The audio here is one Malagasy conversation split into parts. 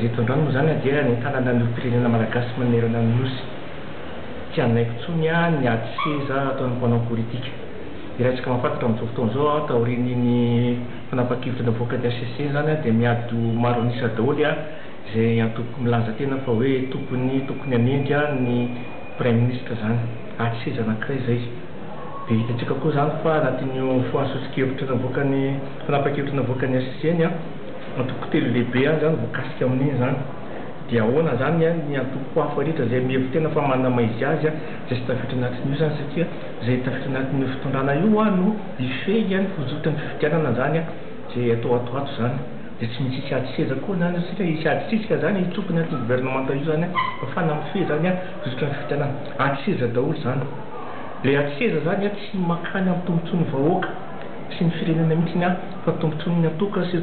Eto an-drano moa izany dia ny tanàna niorim-pirenena malagasy manerana ny Nosy. Tsy hanaiky intsony ny ady seza ataon'ny mpanao politika. Iraisanka mahafantatra amin'izao fotoana izao, taorian'iny fanapahan-kevitra navoaka ny hcc iny izany, dia miady ho maro an'isa daholo izay antoko milaza tena fa hoe tompony, tokony hanendry ny praiminisitra izany. Ady seza anankiray izay. Dia hitantsika koa izany fa anatin'io fanasoson-kevitra navoakan'ny fanapahan-kevitra navoakan'ny hcc iny, Antoko telo lehibe ihany izany voakasika amin'iny izany. Dia ahoana izany an, ny antoko hafa rehetra izay mihevi-tena fa manana maha-izy azy an, izay tsy tafiditra anatin'io izany satria izay tafiditra anatin'io fitondrana io an no hifehy an ny fizotry ny fifidianana izany an, izay atao ato ho ato izany. Dia tsy misy hisy ady seza koa izany satria hisy ady sisika izany an, hitsofoka ny anton'ny governemanta io izany an, hafahana mifehy izany an fizotry ny fifidianana. Ady seza daholo izany. Ilay ady seza izany an tsy makany amin'ny tombontsoan'ny vahoaka sy ny firenena mihitsy an. Fa tombotsoan'ny antoko sy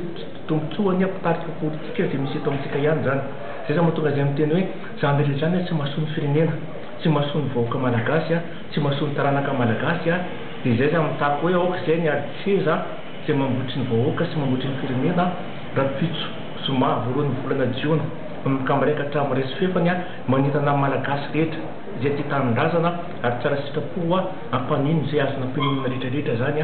tombotsoan'ny mpitarika politika izay misy eto amintsika ihany izany. Izay izany mahatonga izay miteny hoe za mila izany tsy mahasoa ny firenena, tsy mahasoa ny vahoaka malagasy, tsy mahasoa ny taranaka malagasy dia izay izany mitaky hoe aoka izay ny ady seza izay mambotry ny vahoaka sy mambotry ny firenena rahampitso zoma voalohan'ny volana jiona manomboka miraika hatramin'ny resy fefany manentana ny malagasy rehetra izay tia tanindrazana ary tsara sitrapo hampaninon izay azo nampianonana rehetra rehetra izany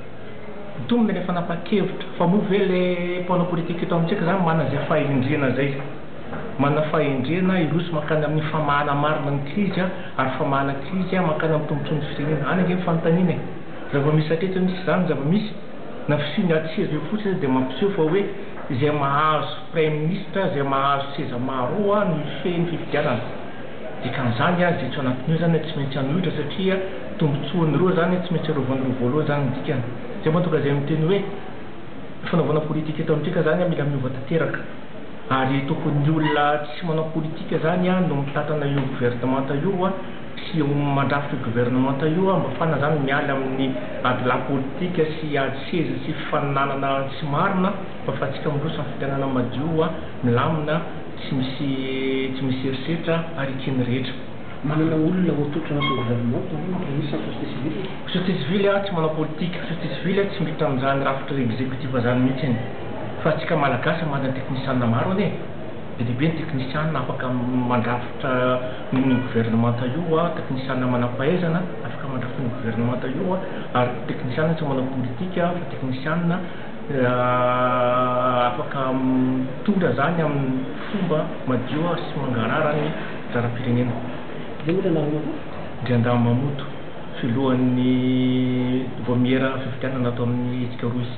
Mitombina ilay fanapahan-kevitra fa moa ve ilay mpanao politika eto amintsika izany manana izay fahendrena izay? Manana fahendrena hiroso mankany amin'ny famahana marina ny krizy ary famahana krizy mankany amin'ny tombontsoan'ny firenena? Any ange ny fanontaniana e! Zava-misy hatreto ve misy izany zava-misy? Na fisian' ny ady sy ireo fotsiny aza dia mampiseho fa hoe izay mahazo praiminisitra, izay mahazo seza maro eo no hifehy ny fifidianana. Dikan'izany dia etsy anatin'io zany tsy maintsy hanohitra satria tombotsoan'ny roa zany tsy maintsy arovany roa voalohany zany ny dikany. Zay mahatonga zay miteny hoe fanaovana politika eto amintsika zany mila miova tanteraka ary tokony ny olona tsy manao politika zany no mitantana io governemanta io sy mandrafitra io governemanta io mba fana zany miala amin'ny ady lahy politika sy ady seza sy fifaninanana tsy marina fa afatsika miroso amin'ny fitanana madio milamina Tsy misy tsy misy herisetra ary eken'ny rehetra. Manana olona ho atolotra anatin'ny gouvernement tao amin'ny Prémices ny société civile? Société civile a tsy manao politika, société civile a tsy miditra amin'izany rafitra executif zany mihitsy anie. Fa antsika malagasy manda ny teknisianina maro anie. Be dia be ny teknisianina afaka mandrafitra ny gouvernementa io a, teknisianina manam-pahaizana afaka mandrafitra ny gouvernementa io a, ary teknisianina tsy manao politika fa teknisianina. Afaka mitondra izany amin'ny fomba madio sy mangarahara ny lalam-pirenena. Izay ohatra anarana koa. Ndriandà Mamoto, filohan'ny Vaomiera fifidianana ato amin'ny hetsika Roa izy.